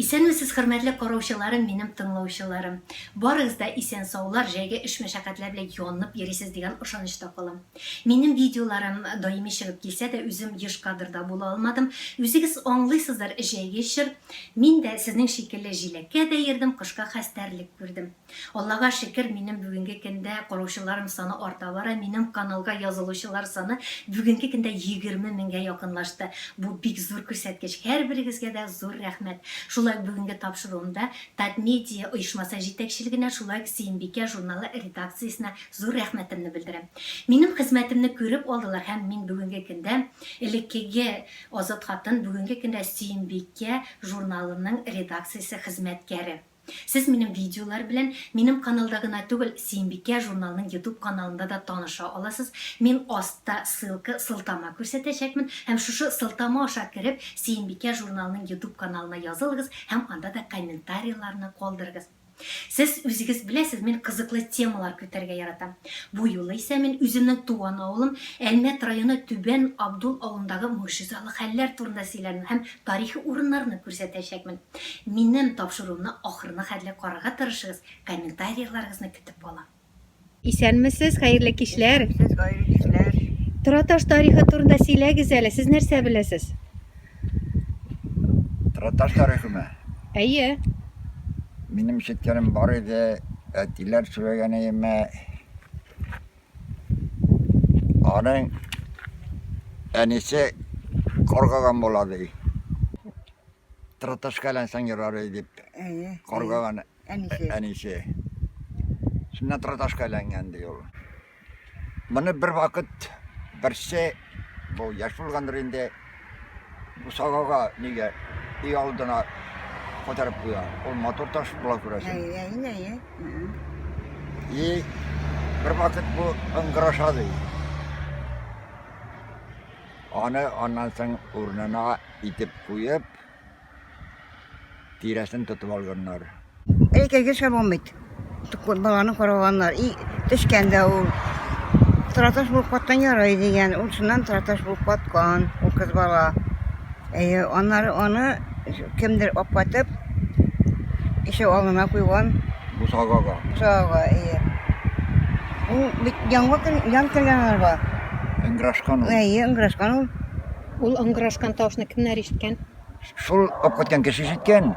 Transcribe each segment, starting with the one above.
Исәнмесез хөрмәтле караучыларым минем тыңлаучыларым. Барыгыз да исән саулар җәйге эш мәшәкатьләр белән янып йөрисез дигән ошанычта калам. Минем видеоларым даими чыгып килсә дә үзем еш кадрда була алмадым. Үзегез аңлыйсыздыр җәйге чор. Мин дә сезнең шикелле җиләккә дә йөрдем, кышка хәстәрлек күрдем. Аллага шөкер, минем бүгенге көндә караучыларым саны арта бара, минем каналга язылучылар саны бүгенге көндә 20 меңгә якынлашты. Бу бик зур күрсәткеч, һәрберегезгә дә зур рәхмәт. Шулай ук бүгенге тапшыруымда Татмедиа оешмасы җитәкчелегенә, шулай ук Сөембикә журналы редакциясенә зур рәхмәтемне белдерәм. Минем хезмәтемне күреп алдылар һәм мин бүгенге көндә, элеккеге Азат хатын, бүгенге көндә Сөембикә журналының редакциясе хезмәткәре. Сез минем видеолар белән минем каналда гына түгел, Сөембикә журналының ютуб каналында да таныша аласыз. Мин астта ссылка, сылтама күрсәтәчәкмен һәм шушы сылтама аша кереп, Сөембикә журналының ютуб каналына язылыгыз һәм анда да комментарийларны калдырыгыз. Сез үзегез беләсез, мин кызыклы темалар көтәргә яратам. Бу юлы исә мин үземнең туган авылым, Әлмәт районы Түбән Абдул авылындагы могҗизалы хәлләр турында сөйләрмен һәм Тарихи урыннарны күрсәтәчәкмен. Минем тапшыруымны ахырына хәтле карарга тырышыгыз, комментарийларыгызны көтеп калам. Исәнмесез, хәерле кичләр! Исәнмесез, хәерле кичләр! Тораташ тарихы турында сөйләгез әле, сез нәрсә беләсез? Тораташ тарихымы? Әйе. Минем ишеткәнем бар иде, әтиләр сөйләгән иеме, Аның әнисе каргаган була ди. Траташкалансаң ярар ей дип. Каргаган әнисе. Шуннан траташкаланган ди ул. Моны бер вакыт берсе Бу яшь булгандыр инде. Бусагага нигә өй алдына кайтарып куя. Ул матур таш була күрәсең. Әйе, әйе, әйе. И бер вакыт бу ыңгыраша ди. Аны аннан соң урынына итеп куеп, тирәсен тотып алганнар. Әйтергә шәбам бит. Баланы караганнар. И төшкән дә ул. Траташ булып каткан ярый дигән. Ул шуннан траташ булып каткан. Ул кыз бала. Әйе, аннары аны кемдер апатып, ишек алдына куйган. Бусагага. Бусагага, әйе. Ул бит яңгыр ян кергән арба. Ыңгырашкан ул. Әйе, ыңгырашкан ул. Ул ыңгырашкан тавышны кемнәр ишеткән? Шул аккүткән кеше ишеткән.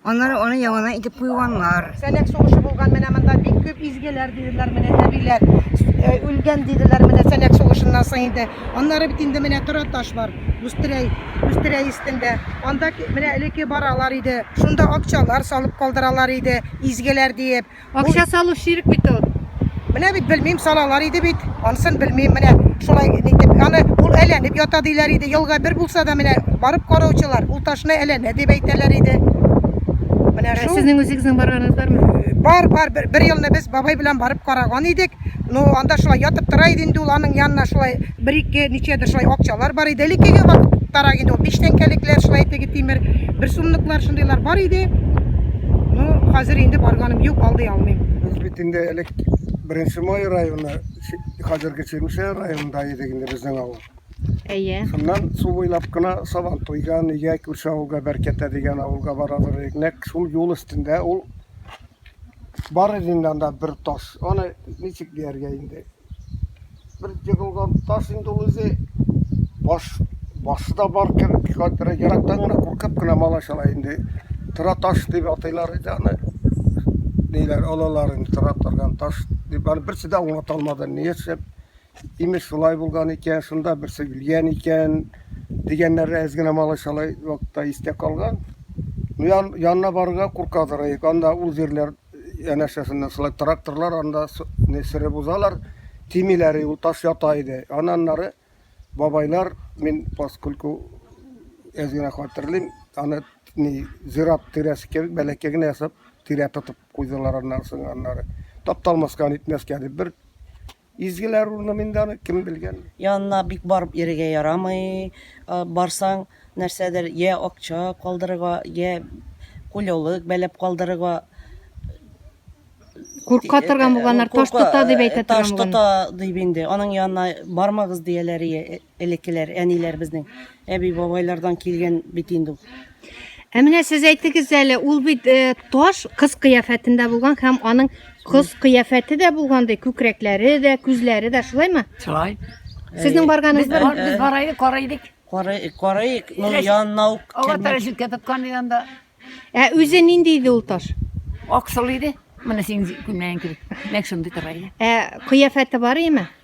Аннары аны яңадан итеп куйганнар. Сәнәк сугышы булган менә монда бик күп изгеләр диделәр менә әбиләр. Э, үлгән диделәр менә сәнәк сугышыннан соң инде. Аннары бит инде менә тора таш бар. Үстерәй, үстерәй өстендә. Анда менә элеке баралар иде. Шунда акчалар салып калдыралар иде, изгеләр диеп. Акча салу ширк бит ул. Менә бит белмим, салалар иде бит. Анысын белмим, менә шулай нитеп. Аны ул әләнеп ята диләр иде. Елга бер булса да менә барып караучылар, ул ташны әләнә дип әйтәләр иде. Менә шул. Сезнең үзегезнең барганыгыз бармы? Бар, бар, бер, бер елны без бабай белән барып караган идек. Ну, анда шулай ятып тора иде инде ул аның янына шулай бер ике ничәдер шулай акчалар бар иде элеккеге вакыттарак инде ул биш тәңкәлекләр шулай теге тимер бер сумлыклар шундыйлар бар иде ну хәзер инде барганым юк алдый алмыйм без бит инде элек беренче май районы хәзерге чирмешә районында идек инде безнең авыл әйе шуннан су буйлап кына сабан туйган өйгә күрше авылга бәркәтә дигән авылга барабыз идек нәкъ шул юл өстендә ул бар иде инде анда бер таш аны ничек дияргә инде бер егылган таш инде ул үзе. Баш, башы да бар кебек, хәтта ерактан гына куркып кына малайчалар инде тора таш дип атыйлар иде аны. Ниләр алалар инде тора торган таш дип аны берсе дә аңлата алмады. Ни эшләп? Имеш шулай булган икән, шунда берсе үлгән икән дигәннәре әз генә малайчалай вакытта истә калган. Ну, ян, янына барырга куркадыр, анда ул җирләр янәшәсеннән шулай тракторлар анда не сырып узалар, тимиләр, ул таш ята иде. Ананнары бабайлар, мин поскольку әз генә хатırlayм, аны не зират тирәсе кебек бәләкәй генә ясап, тирә тотып куйдылар аннары сынганнары. Тапталмаска, нитмәскә дип бер Изгеләр урыным инде аны, кем белгән. Янына бик барып йөрергә ярамый. Барсаң, нәрсәдер йә акча калдырырга, йә кулёлык бәйләп калдырырга. Курка торган булганнар, таш тота дип әйтә торган булган. Таш тота дип инде, аның янына бармагыз дияләр. элеккеләр әниләребезнең әби бабайлардан килгән бит инде ул Ә менә сез әйтегез әле, ул бит э, таш кыз кыяфәтендә булган һәм аның кыз кыяфәте дә булган ди, күкрәкләре дә, күзләре дә, шулаймы? Шулай. Сезнең барганыгыз Без бар? бар- без бара идек, кара идек. Карай- карайык ну Рәш- янына ук Ага кермәк. тәрәзәккә тоткан янда. Ә үзе нинди иде ул таш? Аксыл иде. Менә син күннән кебек. Нәк шундый тора иде. Ә кыяфәте бар име?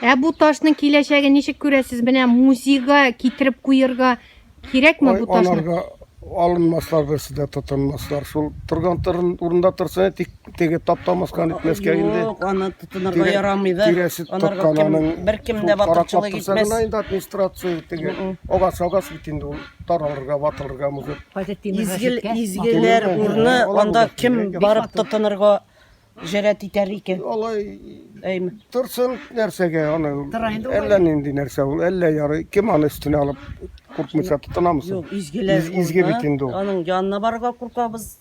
Ә бу ташның киләчәге ничек күрәсез? Менә музейга китереп куярга кирәкме бу ташны? Аларга алынмаслар берсе дә тотынмаслар. Шул торган торын урында торса, тик теге таптамаскан итмәскә инде. Юк, аны тотынырга ярамый да. Тирәсе тоткананың бер кем дә батырчылык итмәс. Гына инде администрация теге агач агач бит инде ул таралырга, ватылырга мөһер. Изгел изгеләр урны анда кем барып тотынырга Җәрәт итәр икән. Алай Әйме. торсын нәрсәгә аны. Тора инде ул. Әллә нинди нәрсә ул, әллә ярый. Кем аны өстенә алып куркмыйча тотынамы соң? Юк, изгеләр. Из- изге ул, бит а? инде ул. Аның янына барырга куркабыз.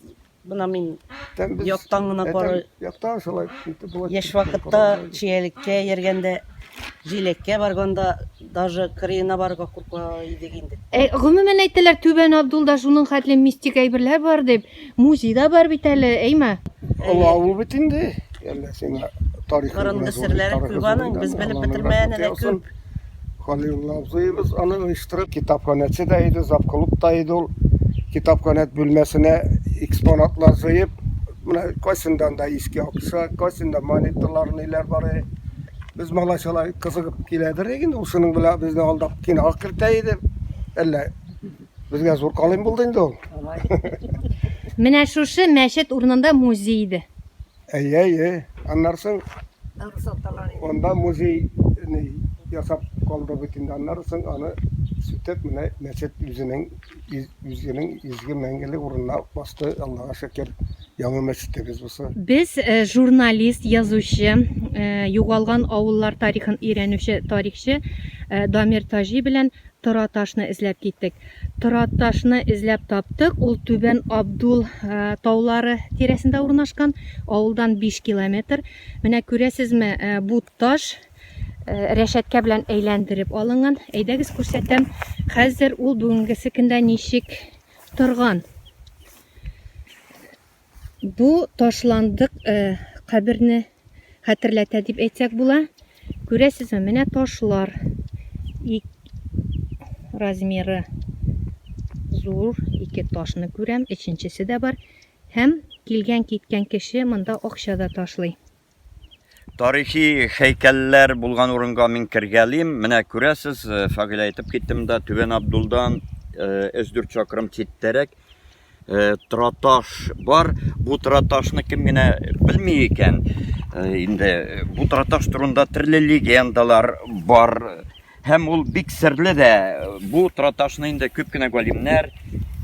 Бына мин Тәм без- яктан гына Әтәм, кара. Яктан шулай. итеп болай Яшь тотып вакытта караганда. чиәлеккә йөргәндә, җиләккә барганда даже кырыена барырга курка идек инде. Ә, гомумән әйтәләр, Түбән Абдулда шуның хәтле мистик әйберләр бар дип. Музей да бар бит әле, әйме? Аңа ул бит инде. Әллә сиңа тарихы Борынгы серләре күп аның, без белеп бетермәгәне дә күп. Халилулла абзыебыз аны оештырып, китапханәче дә иде, завклуб та иде ул. Китапханә бүлмәсенә экспонатлар җыеп, менә кайсындан да иске акча, кайсында монеталар, ниләр бар. Без малайчалар кызыгып киләдер инде, ул шуның белән безне алдап кинога кертә иде. Әллә Безгә зур калын булды инде ул. Менә шушы мәчет урынында музей иде. Әйе, әйе. Аннары соң анда музей ясап калды бит инде. Аннары соң аны сүтеп, менә мәчет үзенең үзенең изге мәңгелек урынына басты, Аллага шөкер. Яңа мәчетебез бусы. Без э, журналист, язучы, э, югалган авыллар тарихын өйрәнүче тарихчы э, Дамир Таҗи белән Тораташны эзләп киттек. Тораташны эзләп таптык. Ул Түбән Абдул таулары тирәсендә урнашкан. Авылдан 5 километр. Менә күрәсезме, бу таш рәшәткә белән әйләндереп алынган. Әйдәгез күрсәтәм. Хәзер ул бүгенгесекендә ничек торган. Бу ташландык э, каберне хәтерләтә дип әйтсәк була. Күрәсезме, менә ташлар. Ик... Размеры зур, ике ташны күрәм, өченчесе дә бар. Һәм килгән-киткән кеше монда акча да ташлый. Тарихи хәйкәлләр булган урынга мин кергәлим. Менә күрәсез, э, Фагилә әйтеп киттем дә, Түбән Абдулдан 3-4 э, чакрым читтәрәк э, траташ бар. Бу траташны кем генә белми икән. Инде бу траташ турында төрле легендалар бар. Һәм ул бик серле дә. Бу троташны инде күп кенә галимнәр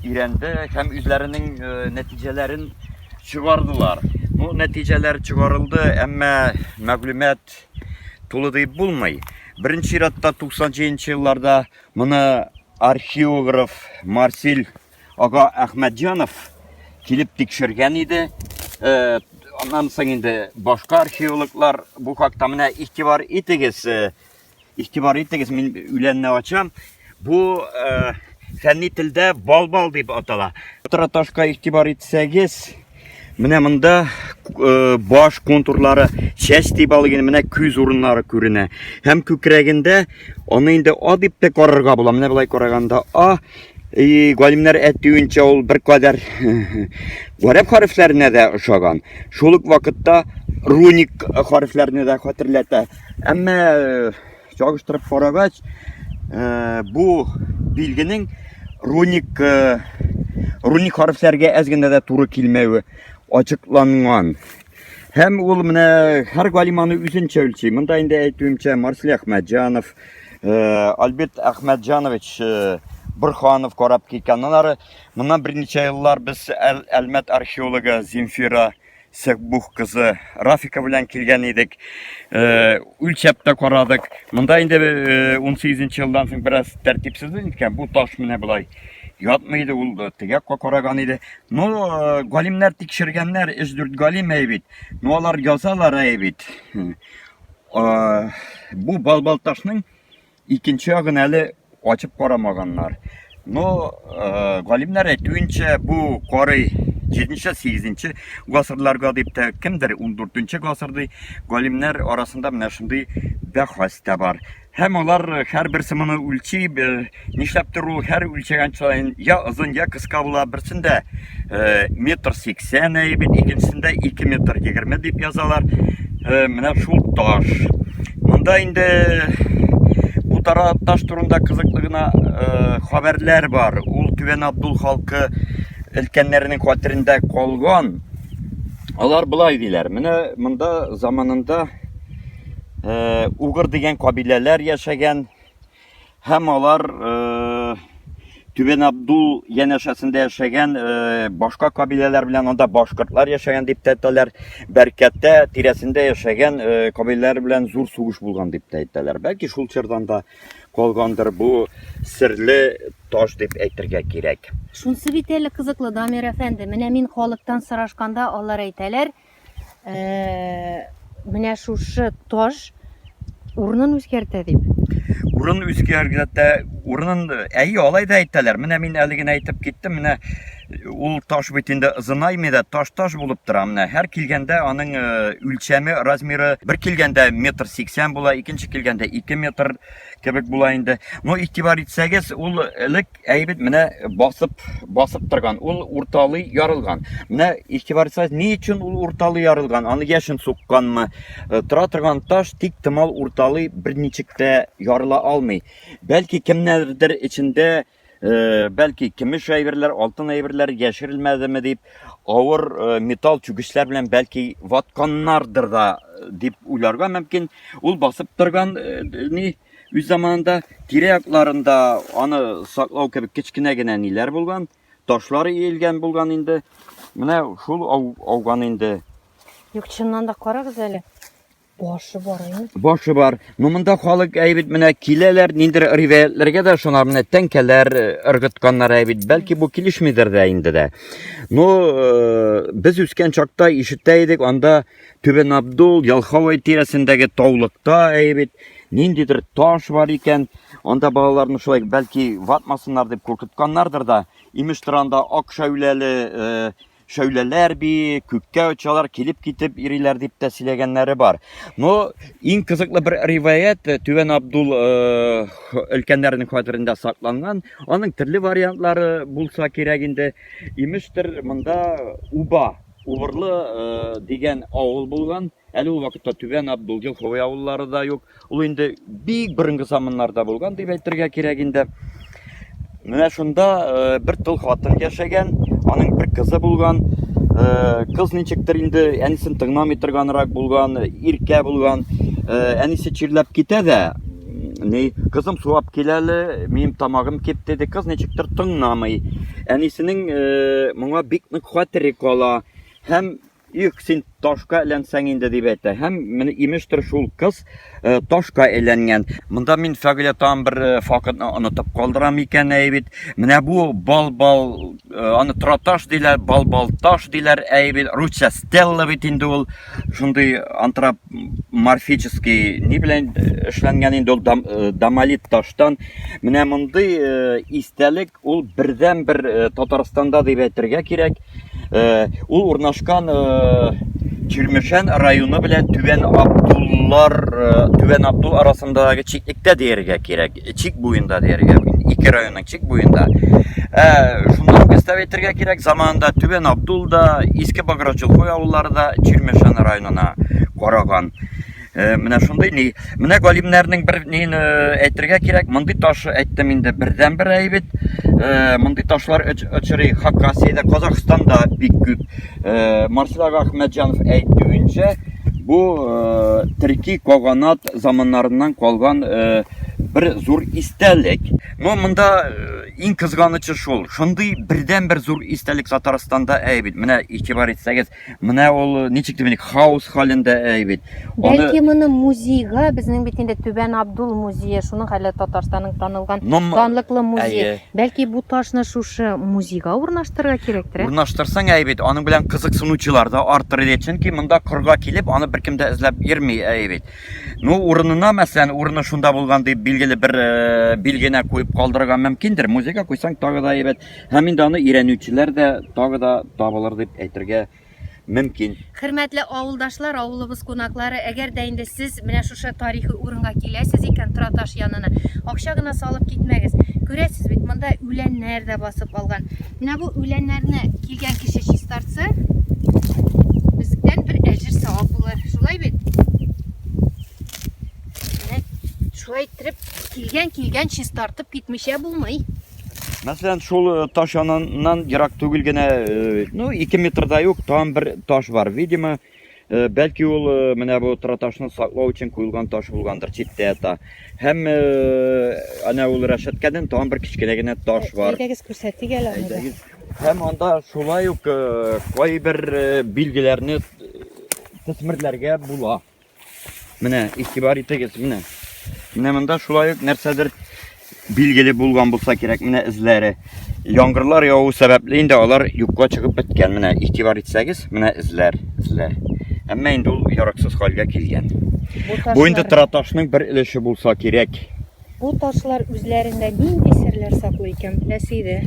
өйрәнде һәм үзләренең э, нәтиҗәләрен чыгардылар. Бу нәтиҗәләр чыгарылды, әмма мәгълүмат тулы дип булмый. Беренче чиратта 90 елларда моны археограф Марсель ага Әхмәтҗанов килеп тикшергән иде. Э, аннан соң инде башка археологлар бу хакта менә игътибар итегез. Э, Игътибар итегез, мин үләнне ачам. Бу э, фәнни телдә балбал дип атала. Траташка игътибар итсәгез, менә монда э, баш контурлары чәч дип алган менә күз урыннары күренә. Һәм күкрәгендә аны инде а дип тә карарга була. Менә болай караганда а И галимнәр әйтүенчә ул бер кадәр гарәп хәрефләренә дә ошаган. Шул ук вакытта руник хәрефләрне дә хәтерләтә. Әмма чагыштырып карагач, бу билгенең руник руник хәрефләргә әз генә дә туры килмәве ачыкланган. Һәм ул менә һәр галиманы үзенчә үлчи. Монда инде әйтүемчә Марсель Әхмәтҗанов, Альберт Әхмәтҗанович Бурханов карап киткән. Аннары моннан берничә еллар без Әлмәт археологы Земфира Сәкбух кызы Рафика белән килгән идек. Э, үлчәп тә карадык. Монда инде 18 э, елдан соң бераз тәртипсезлек иткән. Бу таш менә болай ятмый иде, ул э, теге якка караган иде. Ну, галимнәр тикшергәннәр, 3-4 галим әй бит. Ну, алар язалар әй бит. Бу балбалташның Икенче ягын әле ачып карамаганнар. Но э, галимнәр әйтүенчә, бу коры 7-8 гасырларга дип тә кемдер 14 гасыр ди. Галимнәр арасында менә шундый бәхәс тә бар. Һәм алар һәрбер сымыны үлчи, нишләптер ул һәр үлчәгән сайын я озын, я кыска була, берсендә метр сиксән әйе бит икенчесендә ике метр егерме дип язалар менә шул таш монда инде бу тара таш турында кызыклы гына хәбәрләр бар ул түбән абдул халкы өлкәннәренең хәтерендә калган алар болай диләр менә монда заманында угыр дигән кабиләләр яшәгән Һәм алар Түбән Абдул янәшәсендә яшәгән э, башка кабиләләр белән анда башкортлар яшәгән дип тә әйтәләр. Бәркәттә тирәсендә яшәгән э, кабиләләр белән зур сугыш булган дип тә әйтәләр. Бәлки шул чордан да калгандыр бу серле таш дип әйтергә кирәк. Шунсы бит әле кызыклы Дамир әфәнде, менә мин халыктан сорашканда алар әйтәләр, Менә шушы таш урынын үзгәртә дип. Урын үзгәртә, урынын әйе, алай да әйтәләр. Менә мин әле генә әйтеп киттем, менә ул таш бит инде ызынаймый да таш таш булып тора менә һәр килгәндә аның э, үлчәме размеры бер килгәндә метр сиксән була икенче килгәндә ике метр кебек була инде но игътибар итсәгез ул элек әйбит менә басып басып торган ул урталый ярылган менә игътибар итсәгез ни өчен ул урталый ярылган аны яшен сукканмы э, тора торган таш тик тымал урталый берничек тә ярыла алмый бәлки кемнәрдер эчендә э, бәлки көмеш әйберләр алтын әйберләр яшерелмәдеме дип авыр э, металл чүгечләр белән бәлки ватканнардыр да дип уйларга мөмкин ул басып торган ни Үз заманында тирә-якларында аны саклау кебек кечкенә генә ниләр булган, ташлар иелгән булган инде. Менә шул ау, ауган инде. Юк, чыннан да карагыз әле. Башы бар инде. Башы бар. Ну монда халык әйбит менә киләләр, ниндер риваятләргә дә шуна менә тәңкәләр э, ыргытканнар әйбит. Бәлки бу килешмидер дә инде дә. Ну, э, без үскән чакта ишетә идек, анда Түбән Абдул, Ялховый тирәсендәге таулыкта әйбит, ниндидер таш бар икән, анда балаларны шулай бәлки ватмасыннар дип куркытканнардыр да, имеш торанда ак шәүләле э, шәүләләр би, күккә очалар, килеп китеп ириләр дип тә сөйләгәннәре бар. Но иң кызыклы бер риваять э, Түбән Абдул э, өлкәннәренең хәтерендә сакланган. Аның төрле вариантлары булса кирәк инде. Имештер, монда уба Убырлы дигән авыл булган. Әле ул вакытта Түбән Абдул, Елховый авыллары да юк. Ул инде бик борынгы заманнарда булган дип әйтергә кирәк инде. Менә шунда бер тол хатын яшәгән, аның бер кызы булган. Кыз ничектер инде әнисен тыңламый торганрак булган, иркә булган. Әнисе чирләп китә дә, Ни, кызым сулап кил әле, минем тамагым кип, диде. Кыз ничектер тыңламый. Әнисенең э, моңа бик нык хәтере кала. Һәм Юк, син ташка әйләнсәң инде дип әйтә. Һәм менә имештер шул кыз э, ташка әйләнгән. Монда мин фәгыйлә тагын бер э, факытны онытып калдырам икән әй бит. Менә бу бал-бал э, аны траташ диләр, бал-бал таш диләр әй бит. Русча стелла бит инде ул. Шундый антрап морфический ни белән эшләнгән инде ул домолит таштан менә мондый истәлек ул бердән бер татарстанда дип әйтергә кирәк ул урнашкан Чирмешән районы белән Түбән Абдуллар, э, Түбән Абдул арасындагы чиклектә дияргә кирәк. чик буенда дияргә инде ике районның чик буенда ә, шунда ук өстәп әйтергә кирәк заманында түбән абдул да иске баграчулхой авыллары да чирмешән районына караган ә, менә шундый ни менә галимнәрнең бер нин э, әйтергә кирәк мондый таш әйттем инде бердән бер әйбит ә, мондый ташлар очрый хакасиядә казахстанда бик күп Э, Марселак Ахмәтҗанов әйтүенчә, бу э, төрки каганат заманнарыннан калган э, бер зур истәлек. Ну, монда иң кызганычы шул. Шундый бердән-бер зур истәлек Татарстанда әйбит. Менә игътибар итсәгез, менә ул ничек дип хаос халендә әйбит. Бәлки моны музейга, безнең бит инде Түбән Абдул музее, шуның әле Татарстанның танылган Нум... данлыклы музее. Әйе. Бәлки бу ташны шушы музейга урнаштырырга кирәктер? Урнаштырсаң әйе бит, аның белән кызыксынучылар да артыр иде, чөнки монда корга килеп, аны беркем дә эзләп йөрми әйе бит. Ну, урынына, мәсәлән, урыны шунда булган дип билгеле бер э, билгенә куеп калдырырга мөмкиндер. Музейга куйсаң тагы да әйбәт. Һәм инде аны өйрәнүчеләр дә тагы да табылыр дип әйтергә мөмкин. Хөрмәтле авылдашлар, авылыбыз кунаклары, әгәр дә инде сез менә шушы тарихи урынга киләсез икән, Тораташ янына, акча гына салып китмәгез. Күрәсез бит, монда үләннәр дә басып алган. Менә бу үләннәрне килгән кеше чистартса, бездән бер әҗер савап булыр. Шулай бит? Менә шулай иттереп килгән килгән чистартып китмичә булмый. Мәсәлән, шул э, таш яныннан ерак түгел генә, э, ну, 2 метрда юк, там бер таш бар. Видимо, э, бәлки ул менә бу траташны саклау өчен куелган таш булгандыр, читтә ята. Һәм әнә ул рәшәткәдән там бер кечкенә генә таш бар. Әйдәгез күрсәтик әле аны. Һәм анда шулай ук кайбер билгеләрне төсмерләргә була. Менә игътибар итегез, менә. Менә монда шулай ук нәрсәдер билгеле булган булса кирәк, менә эзләре. Яңгырлар яву сәбәпле инде алар юкка чыгып беткән. Менә игътибар итсәгез, менә эзләр, эзләр. Әмма инде ул яраксыз хәлгә килгән. Бу инде траташның бер өлеше булса кирәк. Бу ташлар үзләрендә нинди серләр саклый икән, беләсе иде.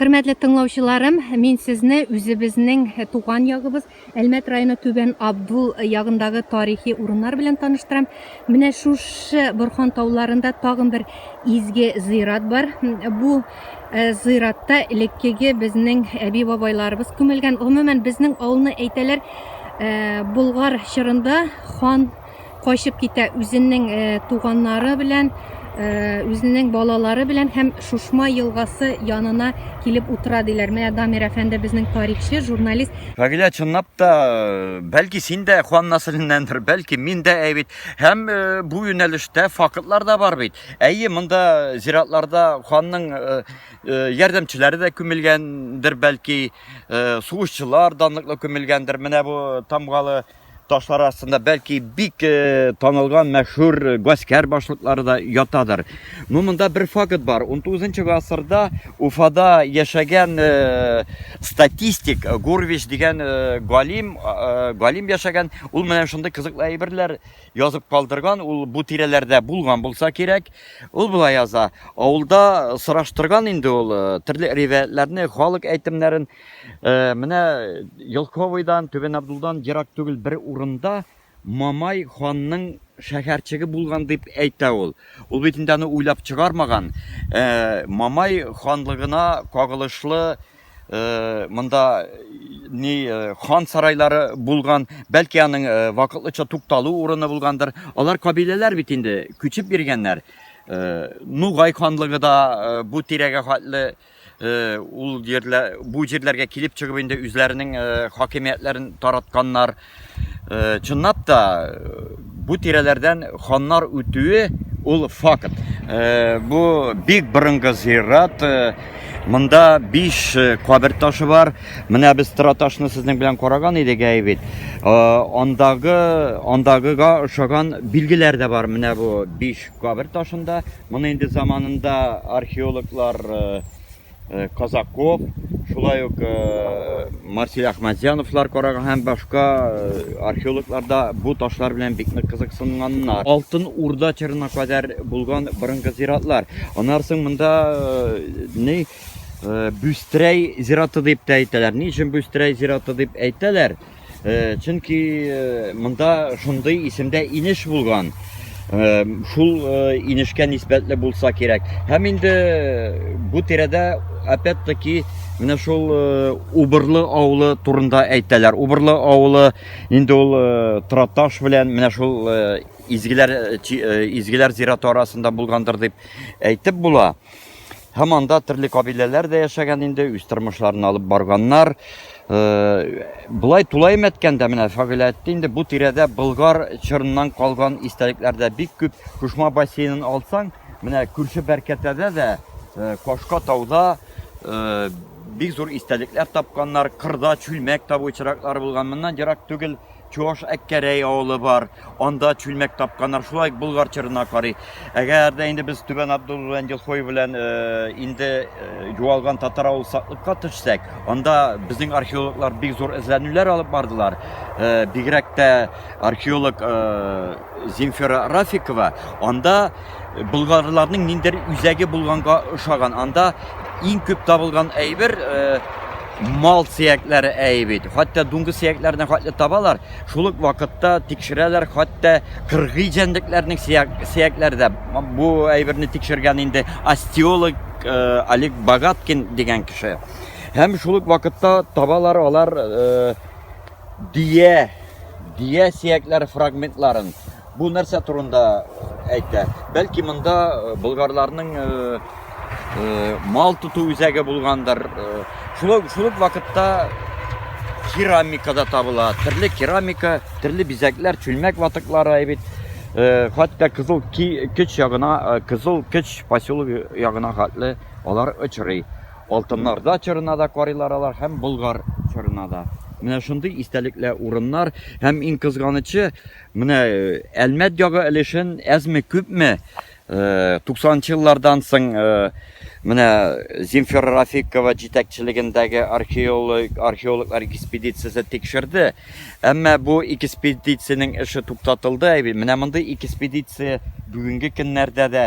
Хөрмәтле тыңлаучыларым, мин сезне үзебезнең туган ягыбыз Әлмәт районы Түбән Абдул ягындагы тарихи урыннар белән таныштырам. Менә шушы Борхан тауларында тагын бер изге зыйрат бар. Бу э, зыйратта элеккеге безнең әби-бабайларыбыз күмелгән. Гомумән, безнең авылны әйтәләр, э, Болгар чорында хан качып китә үзенең э, туганнары белән э, үзенең балалары белән һәм Шушма елгасы янына килеп утыра диләр. Менә Дамир әфәнде безнең тарихчы, журналист. Фагилә чынлап та э, бәлки син дә Хуан Насриннәндер, бәлки мин дә әй бит. Һәм бу юнәлештә фактлар да бар бит. Әйе, монда зиратларда ханның ярдәмчеләре дә күмелгәндер бәлки, сугышчылар данлыклы күмелгәндер. Менә бу тамгалы Ташлар астында бәлки бик э, танылган мәшһүр э, гаскәр башлыклары да ятадыр. Ну монда бер факт бар. 19 гасырда Уфада яшәгән э, статистик Гурвич дигән галим галим яшәгән. Ул менә шундый кызыклы әйберләр язып калдырган. Ул бу тирәләрдә булган булса кирәк. Ул болай яза. Авылда сораштырган инде ул төрле ривәятләрне, халык әйтемнәрен Э, менә Елковыйдан, Түбән Абдулдан ерак түгел бер урында Мамай ханның шәһәрчеге булган дип әйтә ул. Ул бит инде аны уйлап чыгармаган. Э, Мамай ханлыгына кагылышлы э, монда ни э, хан сарайлары булган, бәлки аның э, вакытлыча тукталу урыны булгандыр. Алар кабиләләр бит инде күчеп биргәннәр. Э, Нугай ханлыгы да э, бу тирәгә хәтле э, Э, ул җирләр бу җирләргә килеп чыгып инде үзләренең э, хакимиятләрен таратканнар э, чынлап та бу тирәләрдән ханнар үтүе ул факт бу бик борынгы зират монда биш кабер ташы бар менә без тора ташны сезнең белән караган идек әй бит андагы андагыга ошаган билгеләр дә бар менә бу биш кабер ташында Моны инде заманында археологлар Казаков, шулай ук Марсель Ахмадзяновлар караган һәм башка археологлар да бу ташлар белән бик нык кызыксынганнар. Алтын Урда чорына кадәр булган борынгы зиратлар. Аннан соң монда ни Бүстрәй зираты дип тә әйтәләр. Ни өчен Бүстрәй зираты дип әйтәләр? Э, чөнки э, монда шундый исемдә инеш булган э, шул инешкә нисбәтле булса кирәк һәм инде бу тирәдә опять таки менә шул убырлы авылы турында әйтәләр убырлы авылы инде ул траташ белән менә шул изгеләр изгеләр зираты арасында булгандыр дип әйтеп була Һаман да төрле кабиләләр дә яшәгән инде, үз тормышларын алып барганнар. Э, Булай тулаем әткәндә менә Фагыйлә әйтте инде, бу тирәдә Болгар чорыннан калган истәлекләр дә бик күп. Кушма бассейнын алсаң, менә күрше Бәркәтәдә дә, э, Кашка тауда э, бик зур истәлекләр тапканнар, кырда чүлмәк табу очраклары булган. Моннан ерак түгел Чуаш Әккәрәй авылы бар, анда чүлмәк тапканнар, шулай ук Болгар чырына карый. Әгәр дә инде без Түбән Абдуллан Елхой белән э, инде э, юалган татар авыл саклыкка төшсәк, анда безнең археологлар бик зур эзләнүләр алып бардылар. Э, бигрәк тә археолог Земфира Рафикова анда болгарларның ниндер үзәге булганга ошаган. Анда иң күп табылган әйбер э, мал сөякләре әйе бит. Хәтта дуңгы сөякләренә хәтле табалар. Шул ук вакытта тикшерәләр хәтта кыргый җәнлекләрнең сөякләре дә. Бу әйберне тикшергән инде остеолог э, Олег Богаткин дигән кеше. Һәм шул ук вакытта табалар алар э, Дөя, дөя сөякләре фрагментларын. Бу нәрсә турында әйтә? Бәлки монда э, болгарларның э, э, мал тоту үзәге булгандыр. Шулай шул вакытта керамикада табыла. Төрле керамика, төрле бизәкләр, чүлмәк ватыклары әйбит. Э, хәтта кызыл көч ягына э, кызыл көч поселогы ягына хәтле алар очрый Алтыннар да чорына да карыйлар алар һәм Болгар чорына да. Менә шундый истәлекле урыннар һәм иң кызганычы, менә Әлмәт ягы өлешен әзме күпме 90-нчы еллардан соң менә Земфира Рафикова җитәкчелегендәге археолог археологлар экспедициясе тикшерде. Әмма бу экспедициянең эше туктатылды. Менә мондый экспедиция бүгенге көннәрдә дә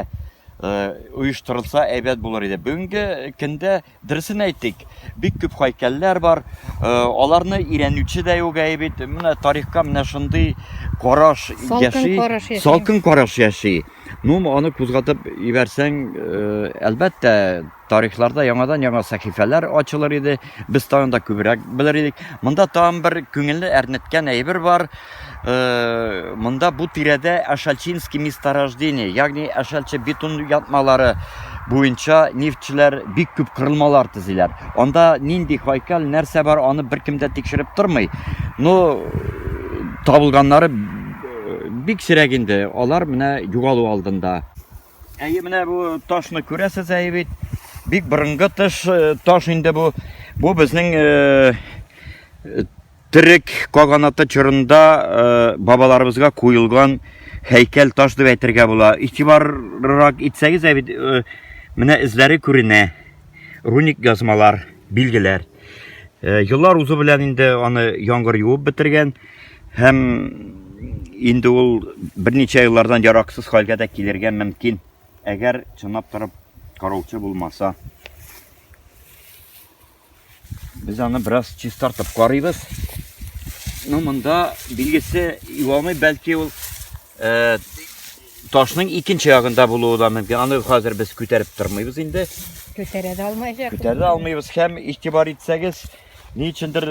оештырылса әйбәт булыр иде. Бүгенге көндә дөресен әйтик, бик күп хайкәлләр бар. Аларны өйрәнүче дә юк әй бит. Менә тарихка менә шундый караш яши. Салкын караш яши. Ну, аны кузгатып ибәрсәң, әлбәттә, Тарихларда яңадан-яңа сәхифәләр ачылыр иде, без тагын да күбрәк белер идек. Монда тагын бер күңелне әрнеткән әйбер бар. Э, монда бу тирәдә Ашалчинский месторождение, ягъни Ашалчы бетон ятмалары буенча нефтьчеләр бик күп кырылмалар төзиләр. Анда нинди хайкал, нәрсә бар, аны беркем дә тикшереп тормый. Но табылганнары бик сирәк инде. Алар менә югалу алдында. Әйе, менә бу ташны күрәсез әйе бит. Бик борынгы тыш э, таш инде бу. Бу безнең э, терек каганаты чорында э, бабаларыбызга куелган һәйкәл таш дип әйтергә була. Игътибаррак итсәгез, ә бит э, менә эзләре күренә. Руник язмалар, билгеләр. Еллар э, узу белән инде аны яңгыр юып бетергән. Һәм инде ул берничә еллардан яраксыз хәлгә дә килергә мөмкин. Әгәр чынлап торып караучы булмаса. Без аны бераз чистартып карыйбыз. Ну, монда билгесе юалмый, бәлки ул э, ташның икенче ягында булуы да мөмкин. Аны хәзер без күтәреп тормыйбыз инде. Көтәрә дә алмаячак. Көтәрә дә алмыйбыз һәм игътибар итсәгез, Ни өчендер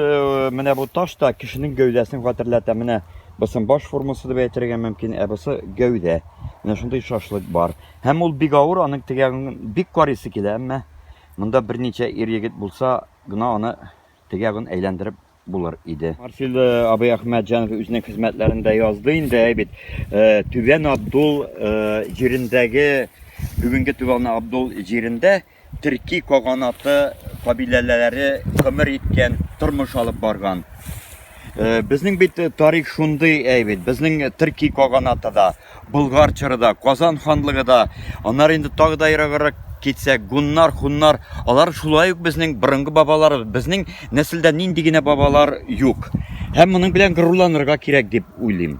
менә бу таш та кешенең гәүдәсен хәтерләтә. Менә бусын баш формасы дип әйтергә мөмкин, ә бусы гәүдә. Менә шундый шашлык бар. Һәм ул бик авыр, аның тегәген бик карыйсы килә, әмма монда берничә ир егет булса гына аны тегәген әйләндереп булыр иде. Марсил абый Әхмәтҗанов үзенең хезмәтләрендә язды инде, әй бит, Түбән Абдул җирендәге бүгенге Түбән Абдул җирендә төрки каганаты кабиләләре гомер иткән, тормыш алып барган. Э, безнең бит э, тарих шундый әйбит. Безнең э, төрки каганаты да, Болгар чоры да, Казан ханлыгы да, аннары инде тагы да ераграк китсәк, гуннар, хуннар, алар шулай ук безнең борынгы бабалар, безнең нәселдә нинди генә бабалар юк. Һәм моның белән горурланырга кирәк дип уйлыйм.